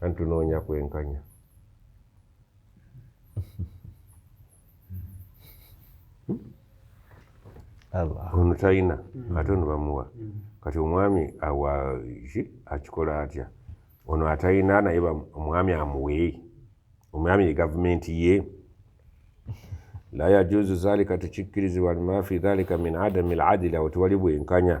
anti tunoonya kwenkanya ono talina mm. ate ono bamuwa mm. kati omwami awa ki akikola atya ono atalina naye omwami amuwe omwami ye gavumenti ye la yajuzu zalika tekikkirizibwa lima fi dhalika min adami ladili awo tewali bwenkanya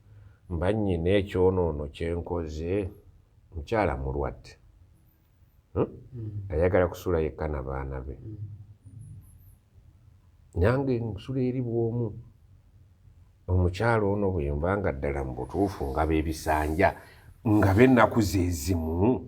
Mba nnyina ekyonoono kye nkoze? Mukyala mulwadde. Ayagala kusula yekka na baana be. Nange nsula eri bw'omu. Omukyala ono bwe mba nga ddala mu butuufu ngaba ebisanja, ngaba ennaku ze zimu?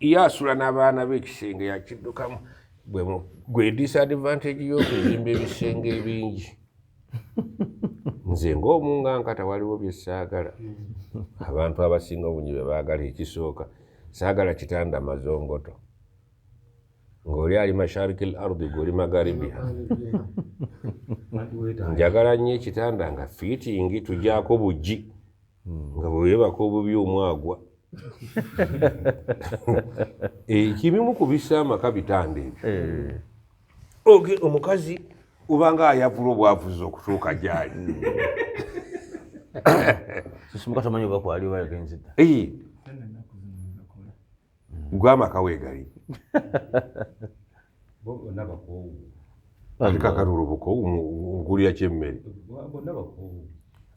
ye asula n'abaana be ekisenge yakiddukamu gwe disadvantage y'okuzimba ebisenge ebingi nze ng'omu nga nkata waliwo bye saagala abantu abasinga obungi bye baagala ekisooka saagala kitanda mazongoto ng'oli ali mashariki l ardi gweoli magaribiha njagala nnyo ekitanda nga fiitingi tugyako buggi nga bwe weebaka obubi omwagwa ekibimu eh, ku bissa amaka bitanda ebyo eh. oge omukazi obanga ayavula obwavuzi okutuuka gyali gwe amaka wegali kakatulubuko nkulira kyemmere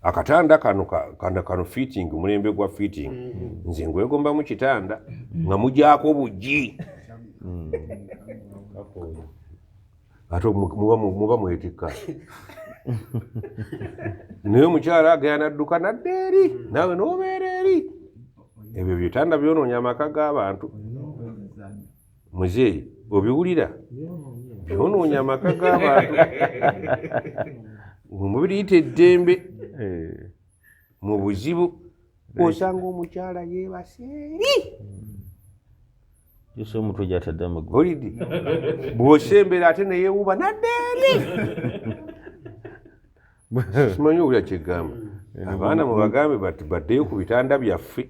akatanda kano kanda kano fitting mulembe gwa fitting mm-hmm. nze ngwegomba mu kitanda nga mujako bujji mm. ate muba mwetikka naye omukyala agayana dduka nadda eri naawe nobeera eri ebyo byetanda byonoonya amaka g'abantu muzeeyi obiwulira byonoonya amaka g'abantu mubiriyita eddembe eh. mu buzibu osanga omukyala yebaseeri yose omutwe gyatadde amagulu olidi bwosembera ate neyewuba naddeeri simanyi obulya kyegamba abaana mubagambe baddeyo ku bitanda byaffe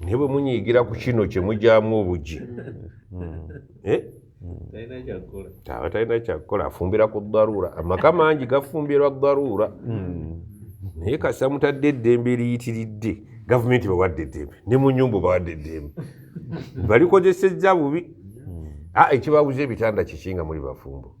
naye bwe munyiigira ku kino kye mugyamu obugi hmm. eh? aba talina kyakukola afumbira ku daruura amaka mangi gafumbirwa daruura hmm. naye kasita mutadde eddembe eriyitiridde gavumenti bawadde eddembe ne mu nyumba bawadde eddembe balikozesezza bubi hmm. ah, ekibabuza ebitanda kiki nga muli bafumbo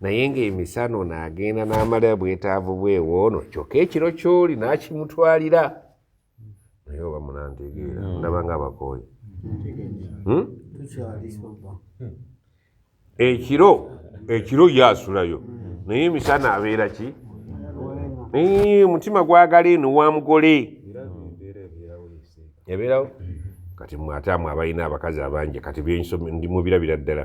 naye ng'emisana ono agenda n'amala bwetaavu bwewoono kyokka ekiro kyoli n'akimutwalira naye oba munantegeera hmm. ndaba nga abakooyi hmm? ekiro ekiro ye asulayo naye emisana abeera ki omutima gwagala eno wa mugole ebeerawo kati mwataamwe abalina abakazi abangi kati byensomi ndimubirabira ddala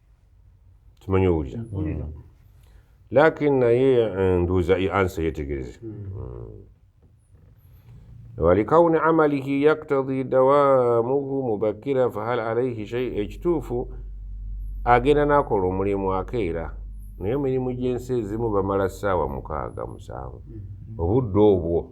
kimanyi owulira mm. lakin naye eh, nduuza i ansa yetegereze walikauni amalihi yaktadi dawamuhu mubakira fahal alaihi shei ekituufu agenda nakola omulimu akeera naye emirimu gyensi ezimu bamala saawa mukaaga musanvu mm. obudde obwo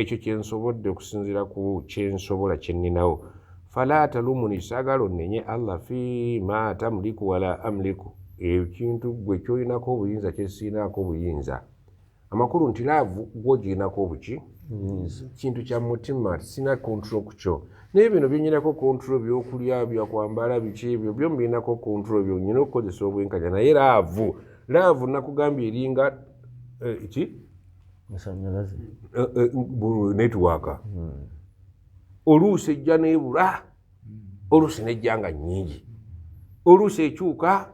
ekyo kyensobodde okusinzira ku kyensobola kyenninawo fala talumuni sagala onnenye allah fi ma tamliku wala amliku ekintu gwe kyolinako obuyinza kyesiinaako obuyinza amakulu nti laavu gwogirinako obuki kintu kya mutima sina kontrol ku kyo naye bino byenyinako kontrol byokulya byakwambala biki ebyo byo mbirinako kontrol byo nyina okukozesa obwenkanya naye laavu laavu nakugambye eringa eh, ki masanyalaze eh, eh, netiwaaka hmm. oluusi ejja nebula oluusi nejja nga nyingi oluusi ekyuka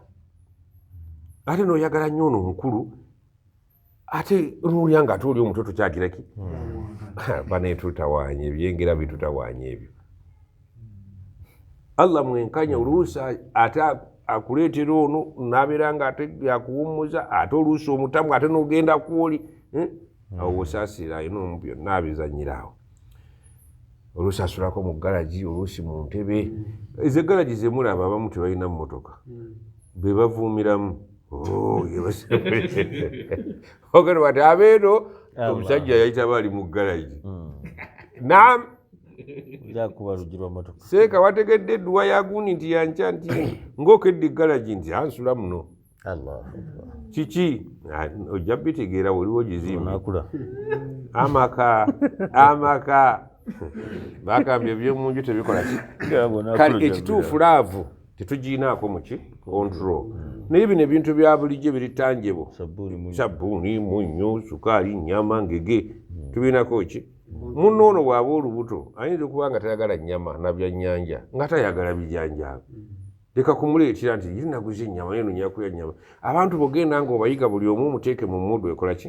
ate noyagala nnyo ono omukulu ate nolya nga ate oli omuto tokyagiraki hmm. banetutawanya ebyengera bitutawanya ebyo allah mwenkanya oluusi ate akuleetera ono nabeera nga ate yakuwummuza ate oluusi omutamu ate nogenda kwoli eh? hmm. awo osaasira ayina omu byonna abizanyira awo oluusi asulako mu galagi oluusi mu ntebe ezo egalagi zemulaba abamu tebalina mumotoka hmm. bebavuumiramu oh, ogenda wati abeeno omusajja yayitaba ali mu garagi hmm. nam seeka wategedde edduwa yagundi nti yankya nti ngaokedde egaragi nti ansula muno kiki ojja bitegeera waliwo gizimbi amaka amaka bagambye ebyomunju tebikola kale ekituufu laavu tetuginaako muki control mm. naye bino ebintu bya bulijjo biri tanjebo sabbuuni munnyo sukaali nyama ngege mm. tubirinako ki munno ono bwaba olubuto ayinza okuba nga tayagala nyama nabyanyanja nga tayagala bijanjaabi mm. leka kumuleetera nti ye naguza ennyama ye nonyakuya nyama abantu bogenda nga obayiga buli omu omuteeke mu mudu ekolaki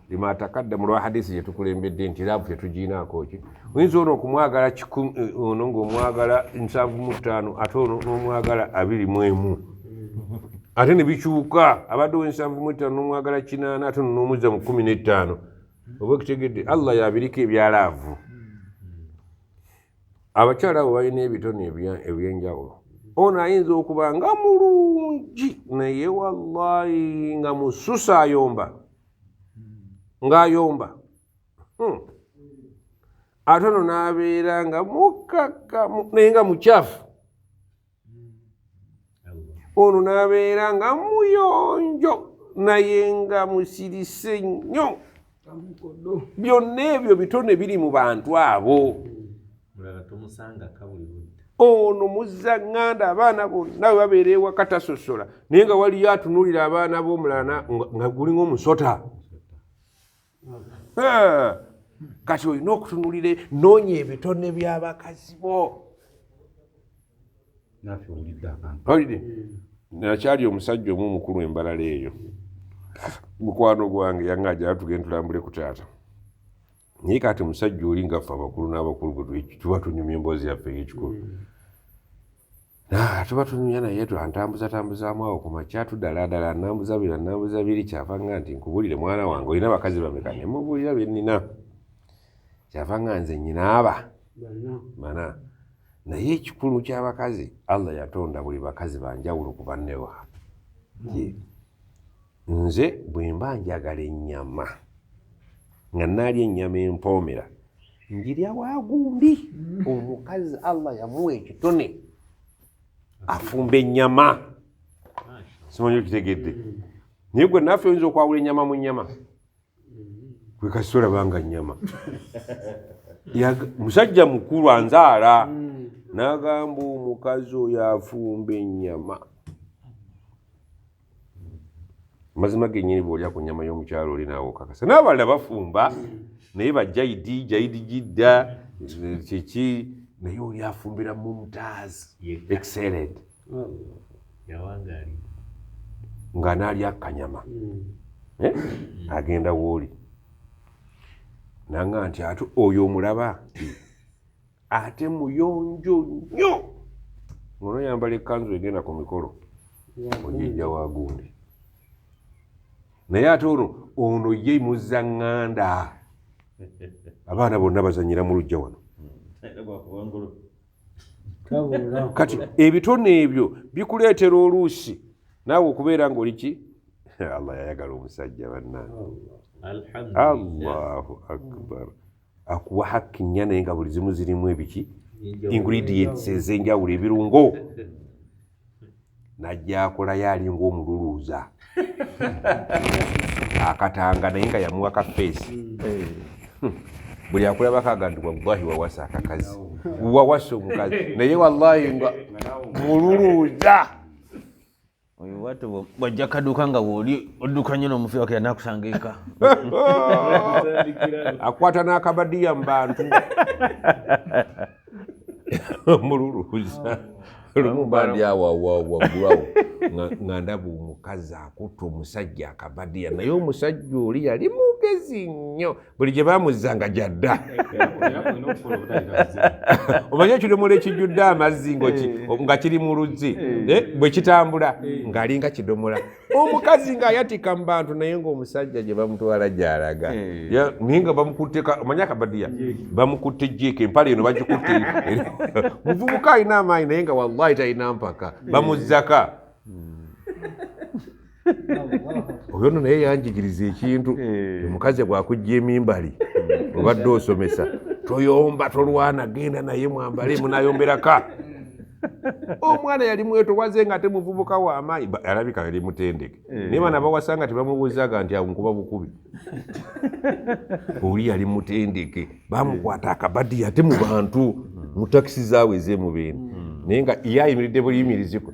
lima takadda mu lwa hadisi gye tukulembedde nti laavu tetugiinaako ki oyinza ono okumwagala eh, ono ngaomwagala nsanvu mu ttaano ate ono n'omwagala abiri mu emu ate ne bikyuka abadde owensanvu mu ettaano n'omwagala kinaana ate ono n'omuzza mu kkumi n'ettaano oba ekitegedde allah yabiriko ebya laavu abakyala abo balina ebitone ebyenjawulo ono ayinza okuba nga mulungi naye wallahi nga mususa ayomba ng'ayomba hmm. ate ono n'abeera nga mukaka naye nga mukyafu ono n'abeera nga muyonjo naye nga musirise nnyo byonna ebyo bitone biri mu bantu abo ono muzza ŋŋanda abaana bonna we babeera ewaka tasosola naye nga waliyo atunuulira abaana b'omulana nga gulinga omusota kati olina okutunulira noonya ebitone by'abakazi bo olide nakyali omusajja omu omukulu embalala eyo mukwano gwange yangaaja tugenda tulambule ku taata naye kati musajja oli ngaffe abakulu n'abakulu tuba tunyumya emboozi yaffe eyekikulu hmm. tuba tunyumya naye antambuzatambuzaamu awo ku makya tudaladala anambuza biri anambuza biri kyava nga nti nkubulire mwana wange olina bakazi bameka ne mubulira bennina kyava nga nze nyinaaba mana naye ekikulu ky'abakazi allah yatonda buli bakazi banjawulo ku bannewa hmm. Nze bwe mba njagala ennyama nga naalya ennyama empoomera njirya wa gundi omukazi allah yamuwa ekitone afumba ennyama simanyi okitegedde naye gwe naffe oyinza okwawula ennyama mu nnyama kwekasita olabanga nnyama musajja mukulu anzaala n'agamba omukazi oyo afumba ennyama mazima gennyini bw'olya ku nnyama y'omukyalo oli naawe okakasa n'abalala bafumba naye bajayidi jayidi jidda kiki naye oli afumbira mumtaz excellent nga naalya kanyama mm. eh? agenda wooli nanga nti ate oyo omulaba ate muyonjo nnyo ngono yambala ekanzu egenda ku mikolo ojijja wa gundi naye ate ono ono ye muzza ŋŋanda abaana bonna bazanyira mu lujja wano kati ebitone ebyo bikuleetera oluusi naawe okubeera ngaoli ki allah yayagala omusajja bannange allahu akbar akuwa hakki nnya naye nga buli zimu zirimu ebiki ingredients ez'enjawulo ebirungo najja akolayo alinga omululuuza akatanga naye nga yamuwa ka feesi hmm. buli akulabakaga nti wallahi wawasa akakazi wawasa omukazi naye wallahi nga mululuuza oyo bwatyo bwajja kaduuka nga wooli odduka nnyo n'omufi wakira nakusanga eka akwata n'akabadiya mu bantu omululu lumubandi awawawaggulawo nga ndaba omukazi akutta omusajja akabadiya naye omusajja oli yali mugezi nnyo buli gye bamuzza nga gyadda omanye ekidomola ekijjudde amazzi eh. nga kiri mu luzzi eh. Eh, bwe kitambula ng'alinga kidomola omukazi ng'ayatika mu bantu naye ng'omusajja gye bamutwala gyalaga naye nga bamukutte omanye akabadiya bamukutte jiika empala eno bagikutte muvubuka alina amaanyi naye nga wallahi talina mpaka bamuzzaka hmm. oyo no naye yanjigiriza ekintu eh. omukazi bwakujja emimbali hmm. obadde osomesa toyomba tolwana genda naye mwambale munayomberaka omwana yali mwetowaze nga ate muvubuka wamaanyi alabika yali mutendeke eh. naye bana bawasa nga tebamubuuzaga nti awo nkuba bukubi oli yali mutendeke bamukwata akabadi ate mu bantu mu takisi zaawe ezemubeni hmm. naye nga yayimiridde buyimiriziko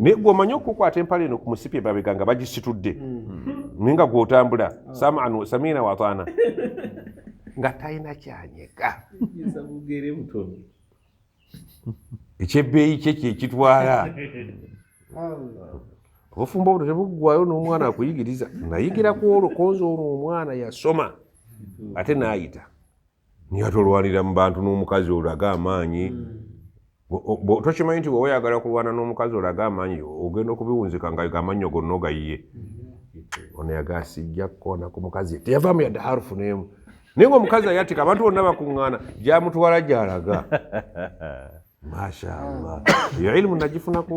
naye gwe omanyi okukwata empala eno ku musipi emabega nga bagisitudde hmm. naye nga gwotambula ah. saman samiina wataana nga talina kyanyega ekyebbeeyi kye kyekitwala obufumbo buno tebuggwayo n'omwana akuyigiriza nayigira ku olwo konza olwo omwana yasoma ate naayita nga tolwanira mu bantu n'omukazi olaga amaanyi hmm. tokimanyi nti bwewa yagala kulwana n'omukazi olaga amaanyi ogenda okubiwunzika nga amannyo gonna ogayiye hmm. ono yagasijja kukona ku mukazi teyavaamu yadde harufu neemu naye nga omukazi ayatika abantu bonna bakuŋŋaana gyamutwala gyalaga mashallah eyo ilimu nagifunaku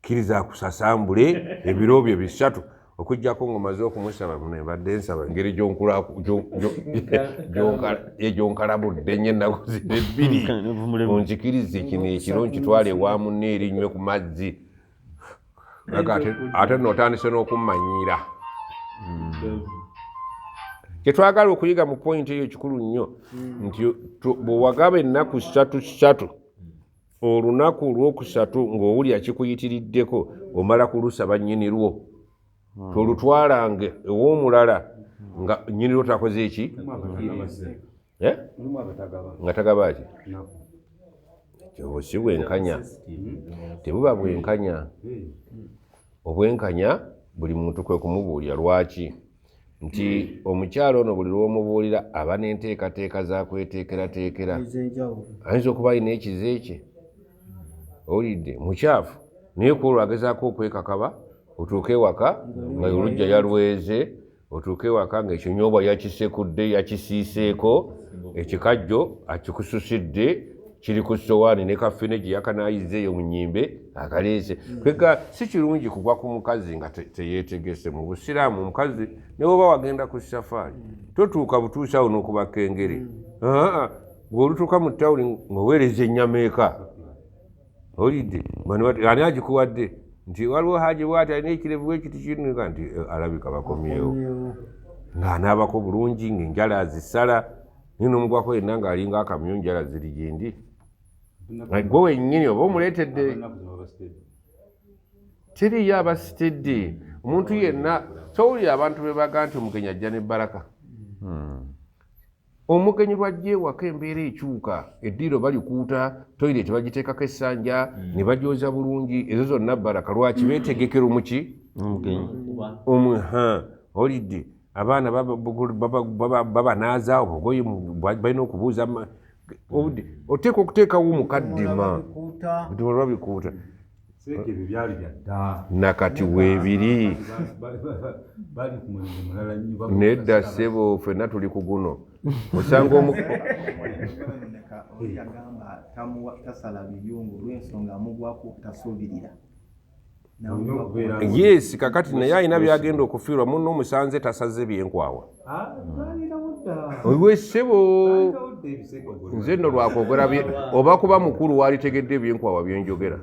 kkiriza akusasambule ebiro byo bisatu okujjako ngaomaze okumusaba muno ebadde nsaba engeri gyonkalabudde nye ennaku zino ebbiri onzikirize kino ekiro nkitwale ewa munne erinywe ku mazzi ate notandise n'okummanyiira kyetwagala okuyiga mu pointi eyo kikulu nnyo nti bwewagaba ennaku satu satu olunaku olwokusatu ng'owulira kikuyitiriddeko omala kulusaba nnyini lwo hmm. tolutwalange ew'omulala nga nnyini lwo takoze eki eh? nga tagaba ki kyobo si bwenkanya tebuba bwenkanya hmm. obwenkanya buli muntu kwe kumubuulira lwaki nti hmm. omukyalo ono buli lwomubuulira aba nenteekateeka zakweteekerateekera ayinza okuba alina ekize kye owulidde mukyafu naye kuolwo agezaako okwekakaba otuuka ewaka nga olujja yalweze otuuka ewaka nga ekinyobwa yakisekudde yakisiiseeko ekikajjo akikususidde kiri ku sowaani ne kafene gye yakanaayizza eyo mu nyimbe akaleese mm. kwega si kirungi kugwa ku mukazi nga teyeetegese mu busiraamu omukazi ne woba wagenda ku safaari mm. totuuka butuusaawo n'okubaka engeri mm. ng'olutuuka mu tawuni ng'oweereza ennyama eka olidde ani agikuwadde nti waliwo haji bwati alina ekirevu ekiti kinuka nti eh, alabika bakomyewo ng'anaabako bulungi ng'enjala azisala naye nomugwako yenna ng'alinga akamyu njala ziri gyendi gwe wennyini oba omuleetedde tiriyo abasitidde omuntu yenna towulira abantu bebaga nti omugenyi ajja ne baraka hmm. omugenyi lwajja ewaka embeera ekyuka eddiiro balikuuta toyire tebagiteekako essanja hmm. ne bagyoza bulungi ezo zonna baraka lwaki beetegekero muki omuha olidde abaana babanaaza obugoye balina okubuuza oteeka okuteekawo mukaddima olwabikuuta nakati weebiri nedda ssebo fenna tuli ku guno osanga omu yes kakati naye alina byagenda okufiirwa muno omusanze tasaze byenkwawa owe ssebo nze nno lwakwogera oba kuba mukulu waalitegedde ebyenkwawa byenjogera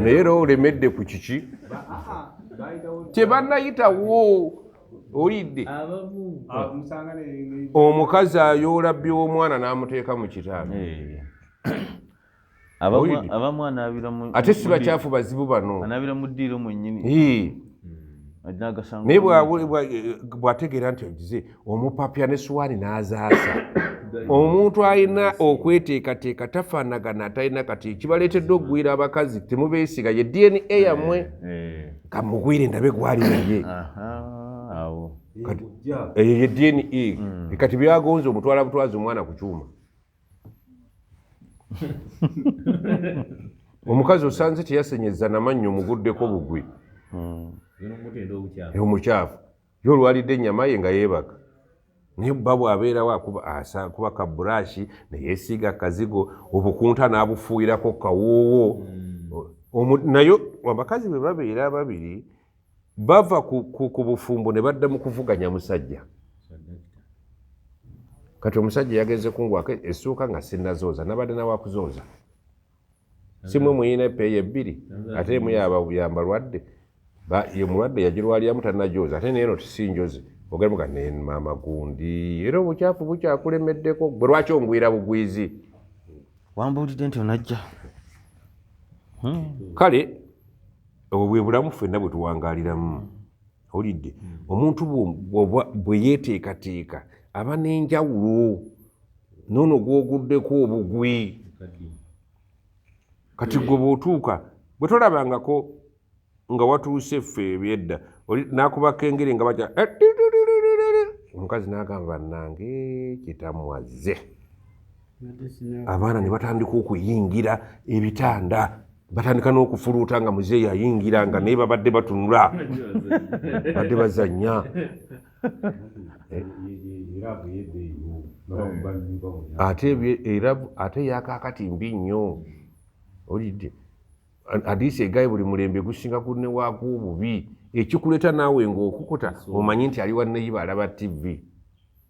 naye era olemedde ku kiki tebanayitawo olidde omukazi ayoola by'omwana n'amuteeka mu kitaano abamu ate si bakyafu bazibu bano anabira mu ddiiro mwenyini naye bwategeera nti ogize omupapya ne suwaani n'azaasa omuntu alina okweteekateeka tafaanagana atalina kati kibaleetedde okugwira abakazi temubeesiga ye dna yammwe eh, eh. kamugwire ndabe gwali naye eyo ye dna hmm. kati byagonza omutwala butwazi omwana ku kyuma omukazi osanze teyasenyeza namannyo muguddeko bugwi hmm. omukyafu ye olwalidde ennyama ye nga yeebaka naye bba bwabeerawo akuba ka burashi neyesiiga kazigo obukunta n'abufuuyirako kawoowo hmm. naye abakazi bwe babeera babiri bava ku bufumbo ne badda mu kuvuganya musajja kati omusajja yagenze kungwako essuuka nga sinnazooza nabadde nawakuzooza simwe muyina epeeyo ebbiri ate emu yambalwadde ye mulwadde yagirwaliramu tanajoozi ate naye no tisinjozi ogemuga ne maama gundi era obukyafu bukyakulemeddeko gwe lwaki ongwira bugwizi wambuulidde nti onajja hmm. kale obwo bwe bulamu ffenna bwe tuwangaaliramu hmm. owulidde hmm. omuntu bwe yeeteekateeka aba n'enjawulo noono gwoguddeko obugwi kati gwe bw'otuuka bwe tolabangako nga watuuse ffe ebyedda nakubaka engeri nga baja eh, omukazi n'agamba nange kitamwazze abaana ne batandika okuyingira ebitanda batandika n'okufuluuta nga muzeeyi ayingira nga naye babadde batunula badde bazannya ate era ate yakakati mbi nnyo olidde adiisi egaye buli mulembe gusinga kunewaako obubi ekikuleeta naawe ng'okukuta omanyi nti ali wanneyiba alaba tivi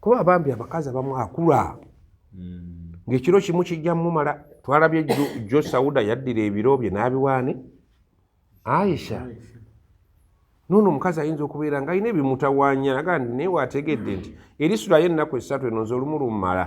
kuba abambi abakazi abamu akula hmm. ngaekiro kimu kijja mumala twalabye jo sauda yaddira ebiro bye n'abiwaani aisha noono omukazi ayinza okubeera nga alina ebimutawanya naga nti naye waategedde nti erisulayo ennaku esatu eno nze olumu lumumala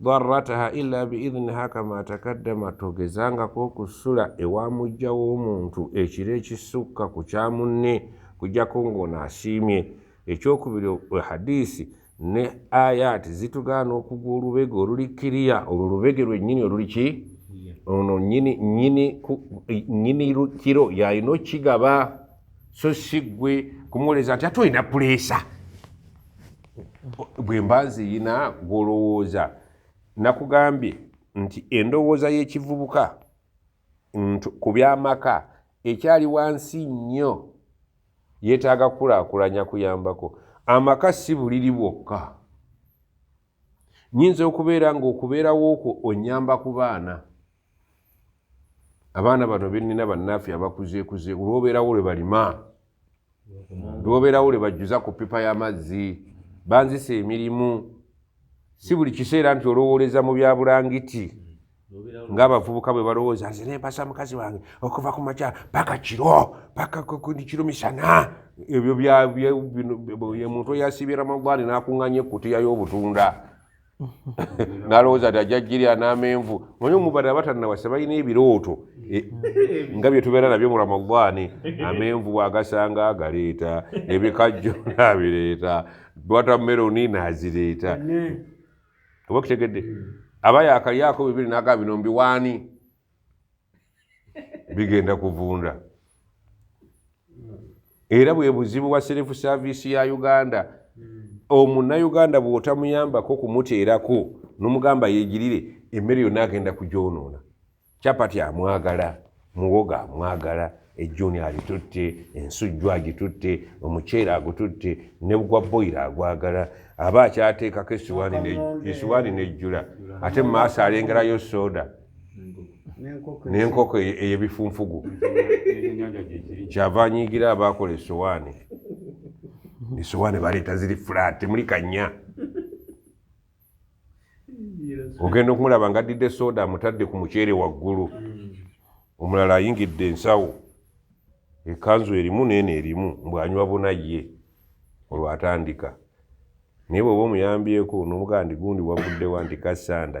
darataha ila biidniha kama takaddama togezangako okusula ewamujja w'omuntu ekiro ekisukka ku kya munne kujjako ng'ono asiimye ekyokubiri hadiisi ne ayaati zitugaana okugwa olubege oluli kiriya olwo lubege lwennyini oluli ki ono nyini nyini nyini kiro yalina okukigaba so si ggwe kumuwoleza nti ate olina puleesa bwe mba nziyina gw'olowooza nakugambye nti endowooza y'ekivubuka ku by'amaka ekyali wansi nnyo yeetaaga kukulaakulanya kuyambako amaka si buliri bwokka nyinza okubeera ng'okubeerawo okwo onyamba ku baana abaana bano benina bannaffe abakuzekuze lwobeerawo lwe balima lwobeerawo lwe bajjuza ku pipa y'amazzi banzisa emirimu si buli kiseera nti olowooleza mu bya bulangiti ng'abavubuka bwe balowooza nze nempasa mukazi wange okuva ku makya paka kiro paka kiro misana ebyo byamuntu eyasiibye ramadaani n'akuŋŋanya ekkutiya y'obutunda nalowooza ti ajja jirya n'amenvu manye omubadde abatannawasa balina ebirooto e, nga bye tubeera nabyo mu ramadaani amenvu bwagasanga agaleeta ebikajjo naabireeta watameroni naazireeta oba kitegedde aba yakalyako bibiri naga bino mbiwaani bigenda kuvunda era bwe buzibu bwa serefu saavisi ya uganda omunnayuganda bw'otamuyambako kumuteerako nomugamba yegirire emmere yonna agenda kugyonoona capati amwagala muwoga amwagala ejjuni alitutte ensujju agitutte omuceere agututte ne gwa boyiro agwagala aba akyateekako esiwaani n'ejjula ate mu maaso alengerayo sooda n'enkoko eyebifunfugu kyava anyiigira abaakola esowaani esowaani baleeta ziri fulaati muli kanya ogenda okumulaba nga addidde sooda amutadde ku muceere waggulu omulala ayingidde ensawo ekanzu erimu neeno erimu mbwanywa buna ye olwatandika naye bweoba omuyambyeko nomugaa ndi gundi wavuddewa nti kasanda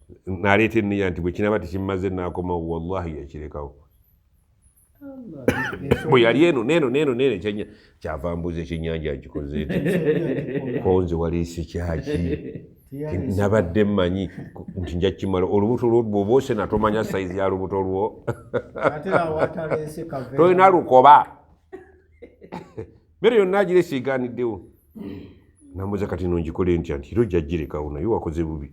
naleeta enniya nti bwekinaba tekimaze nakomawo wallahi yakirekawo bwe yali eno neeno neeno neeno ekyanya kyava mbuuza ekyenyanja nkikoze nti konze waliise kyaki nabadde mmanyi nti nja kukimala olubuto lwo bwoba osena tomanya sayizi ya lubuto lwo tolina lukoba mmere yonna agirese egaaniddewo namuza kati no ngikole ntya nti era ojjagirekawo naye wakoze bubi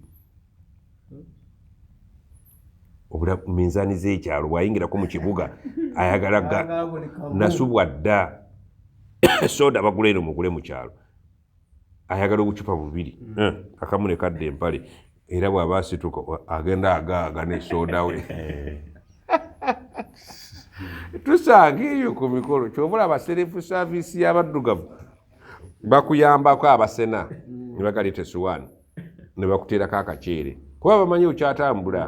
obula minzaani z'ekyalo bwayingirako mu kibuga ayagala nasubwa dda soda bagula eno mugule mu kyalo ayagala obucupa bubiri mm. eh, akamu ne kadda empale era bw'aba asituka agenda agaaga ne soda we eh. tusanga eyo ku mikolo kyobula abaserefu saavisi y'abaddugavu bakuyambako abasena ne bagaleeta esuwaani ne bakuteerako akaceere kuba bamanyi okyatambula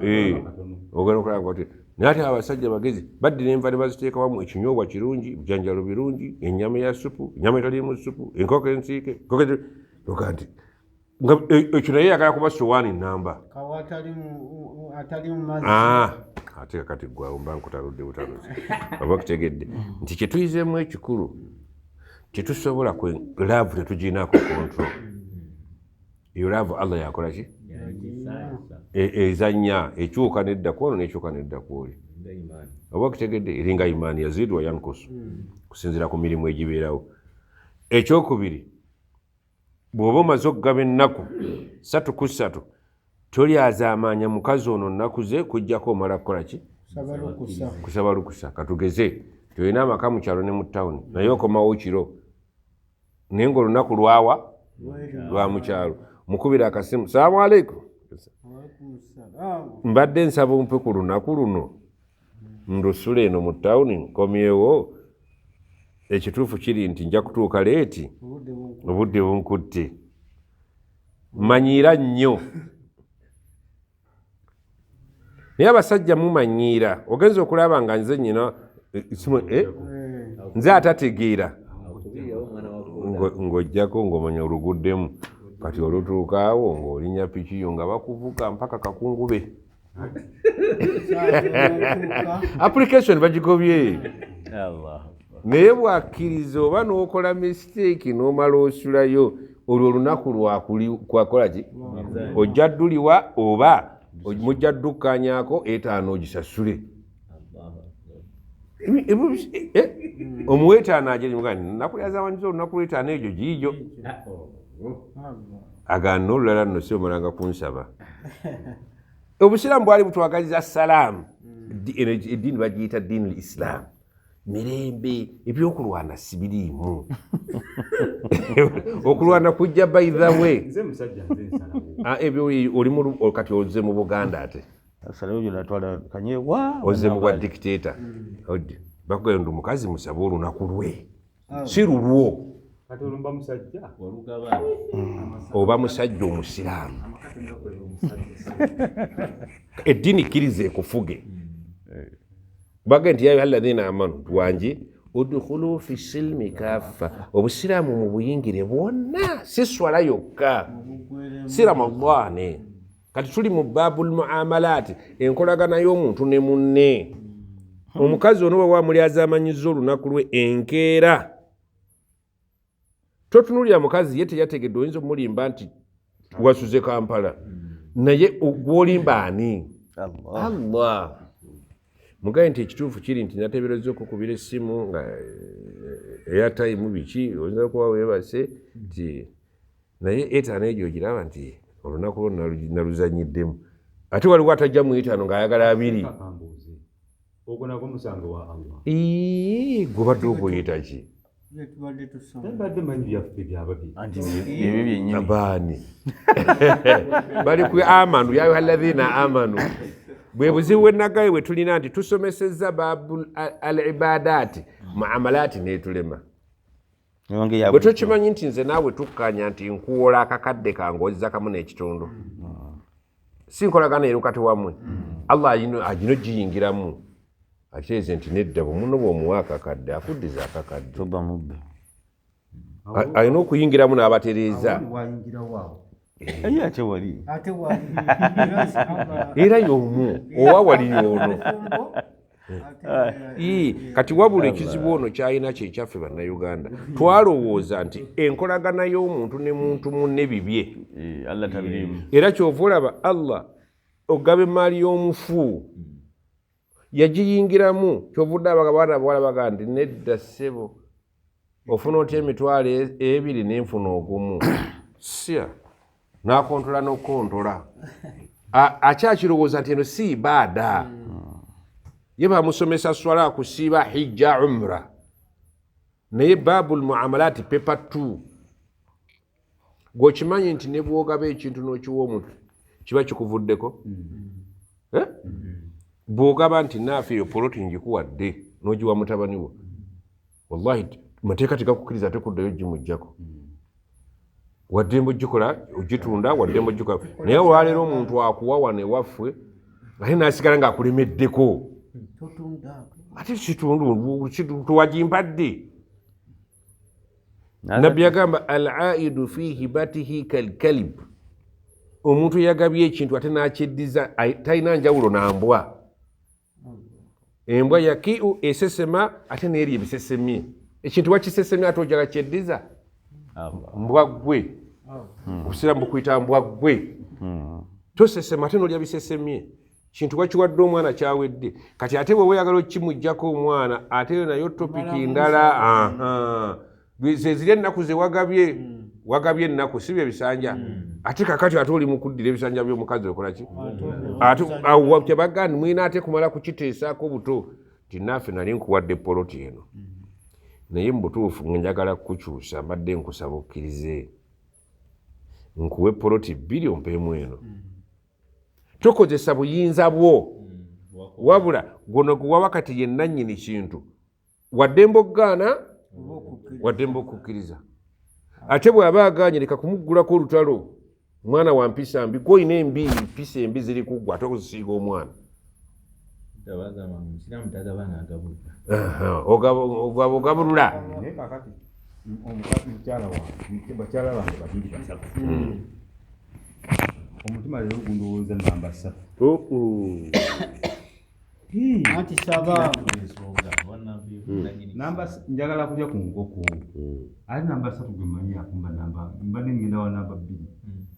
eh, ogenda okulaba oti naye ate abasajja bagezi baddira enva ne baziteekawamu ekinyobwa kirungi ebijanjalo birungi ennyama ya supu ennyama etaliimu supu enkoko ensiike oga nti e, ekyo naye yagala kuba sowaani namba ah, ate kakati gwawo mba nkutaludde butaluzi oba kutegedde nti kyetuyizeemu ekikulu tetusobola kwe laavu tetuginaako kontro eyo laavu allah yakola ki e, ezanya ekyuka nedda kwono nekyuka nedda kwoli oba okitegedde eringa imaani yaziidwa yankusu kusinzira ku mirimu egibeerawo ekyokubiri Bw'oba omaze okugaba ennaku ssatu ku ssatu, tolyazaamaanya mukazi ono nnaku ze kujjako omala kukola ki? Kusaba lukusa. Katugeze nti olina amaka mu kyalo ne mu tawuni naye okomawo kiro naye ng'olunaku lwawa lwa mu kyalo. Mukubira akasimu, salaamu aleikum, mbadde nsaba ompe ku lunaku luno. ndusula eno mu tawuni nkomyewo ekituufu kiri nti nja kutuuka leeti obudde bunkutte manyiira nnyo naye abasajja mumanyiira ogenza okulaba nga nze nyina eh, eh, nze atategeera ng'ojjako ng'omanya oluguddemu kati olutuukaawo ng'olinya pikiyo nga bakuvuga mpaka kakungube application bagigobye naye bwakkiriza oba n'okola mistake n'omala osulayo olwo olunaku lwakwakola ki ojja dduliwa oba mujja ddukkanyako etaano ogisasule Eh, omuwetaano ajenakulyazawanyiza olunaku lwetaano egyo giijo agana olulala nno si omalanga kunsaba obusiraamu bwali butwagaliza salaamu eddiini bagiyita diini l isilaamu mirembe ebyokulwana sibiriimu okulwana kujja baithawe ah, ebyo oli kati oze mu buganda ate oze mubwa dictator bakugayo ndi mukazi musaba olunaku lwe ah. si lulwo oba musajja omusiraamu eddiini kkiriza ekufuge baga nti yayo alladhina amanu tuwangi udkhulu fi silmi kaffa obusiraamu mubuyingire bwonna si swala yokka si ramadane kati tuli mu baabul muamalaati enkolagana y'omuntu ne munne hmm. omukazi ono bwe wamuli azamanyiza olunaku lwe enkeera totunulira mukazi ye teyategedde oyinza omulimba nti wasuze kampala hmm. naye gwolimba ani allah mugaye nti ekituufu kiri nti natebereza okukubira essimu nga eh, eyatayimu biki oyinza kuba webase nti naye etaano egyo ogiraba nti olunaku lwo naluzanyiddemu ate waliwo atajja mu etaano ng'ayagala abiri gwebadde oguyitaki abaani bali ku amanu yayuha alladhina amanu bwe buzibu bwenagaye bwe tulina nti tusomesezza babu al ibadaati muamalaati netulema bwe tokimanyi nti nze naawe tukkanya nti nkuwola akakadde kange ozza kamu n'ekitundu si nkolagana ero kati wamwe allah agino giyingiramu ateeze nti nedda bumuno bwomuwa akakadde akuddiza akakadde alina okuyingiramu n'abatereeza aye ate wali era yomu owa wali yono kati wabula ekizibu ono kyalina kyekyaffe bannayuganda twalowooza nti enkolagana y'omuntu ne muntu munne bibye era kyova olaba allah ogaba emaali y'omufu yagiyingiramu kyovudde abaga baana bawala baga nti nedda ssebo ofuna otya emitwalo e-, ebiri nenfuna ogumu sia nakontola nokukontola akyakirowooza nti eno si ibaada ye bamusomesa swala kusiiba hijja umra naye babu lmuamalaati pepa t gwe okimanyi nti ne bwogaba ekintu n'okiwa omuntu kiba kikuvuddeko mm-hmm. eh? mm-hmm. bwogaba nti naafe eyo poloti ngikuwadde n'ogiwa mutabani wo wallahi mateeka tegakukkiriza ate kuddayo gimuggyako mm-hmm. waddembe ogikola ogitunda waddembe ogikola naye olwaleero omuntu akuwa wano ewaffe ate nasigala ngaakulemeddeko ate kitundu tuwagimpadde nabbi yagamba al aidu fi hibatihi kalkalib omuntu eyagabye ekintu ate nakyeddiza talina njawulo nambwa embwa yakiu esesema ate neeri ebisesemye ekintu wakisesemye ate ojala kyeddiza mbwa gwe obusiramu bukuyita mbwa gwe hmm. tosesema ate nolya bisesemye kintu bakiwadde omwana kyawedde kati ate bwe weyagala okimugjako omwana ate yo nayo topiki ndala zeziri ennaku zewagabye hmm. wagabye ennaku si bye bisanja hmm. ate kakati ate oli mukuddira ebisanja byomukazi okolaki tebagandi mwina ate kumala kukiteesaako buto tinaafe nali nkuwadde poloti eno hmm. naye mubutuufu ngenjagala kukukyusa mbadde nkusaba okkirize nkuwe poloti bbiri ompeemu eno tokozesa buyinza bwo hmm, wabula guno guwawa kati yennanyini kintu waddembe okugaana waddembe okukkiriza ate bw'aba agaanye leka kumuggulako olutalo mwana wa mpisa mbi gwoyina embi mpisa embi ziri kuggwa ate okuzisinga omwana ogabulula omutima leero gundowooza namba satu anti saba namba njagala kulya ku nkoko ate namba satu gwe manyi akumba namba mba nengenda wa namba bbiri